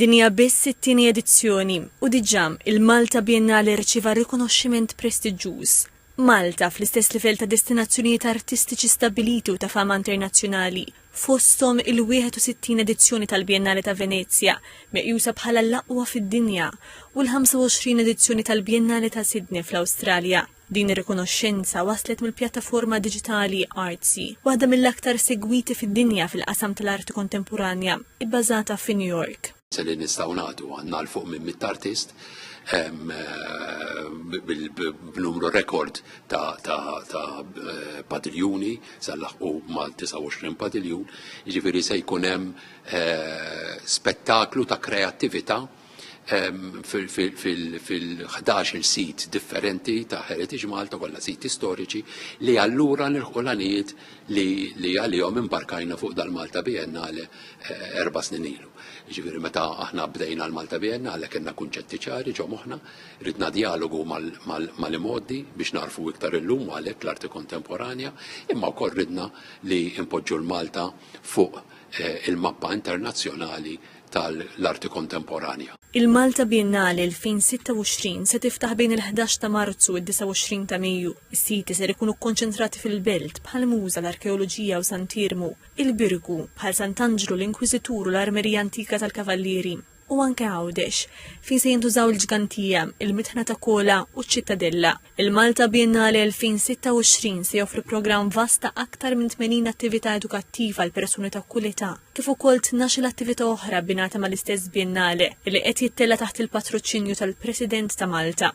Din hija biss it-tieni edizzjoni u diġà il-Malta Biennale rċieva rikonoxximent prestiġġuż. Malta, fl-istess livell ta' destinazzjonijiet artistiċi stabbiliti u ta' fama internazzjonali, fosthom il-61 edizzjoni tal-Biennale ta' Venezja, meqjusa bħala l-aqwa fid-dinja, u l-25 edizzjoni tal-Biennale ta' Sydney fl-Awstralja. Din ir-rikonoxxenza waslet mill-pjattaforma diġitali Artsy, waħda mill-aktar segwiti fid-dinja fil-qasam tal-arti kontemporanja, ibbażata fi New York. Se li nistgħu nagħtu għandna 'l fuq minn mitt artist b'numru rekord ta' padiljuni se nlaħħqu mal-29 padiljun, jiġifieri se jkun hemm spettaklu ta' kreattività. fil-11 sit differenti ta' Heritage Malta kollha siti storiċi li allura nilħu l-għanijiet li għalihom imbarkajna fuq dal-Malta Biennale eh, erba' snin ilu. Ġifieri meta aħna bdejna l-Malta Biennale kellna kunċetti ċari ġo moħħna, ridna dialogu mal-imgħoddi biex narfu iktar illum għalhekk l-arti kontemporanja, imma wkoll ridna li impoġġu l-Malta fuq eh, il-mappa internazzjonali tal-arti kontemporanja. Il-Malta Biennale 2026 se tiftaħ bejn il-ħdax ta' Marzu u d-29 ta' Mejju. Is-siti ser ikunu kkonċentrati fil-Belt bħal Muża, l-Arkeoloġija u Sant Iermu, il-Birgu, bħal Sant'Anġlu, l-Inkwiżitur u l-Armerija Antika tal-Kavallieri, u anke Għawdex, fejn se jintużaw il-Ġgantija, il-Mitħna ta' Kola u ċ-Ċittadella. Il-Malta Biennale 2026 se joffri programm vast ta' aktar minn 80 attività edukattiva għal persuni ta' kull età, kif ukoll tnax-il attività oħra bbinata mal-istess Biennale li qed jittella' taħt il-patruċinju tal-President ta' Malta.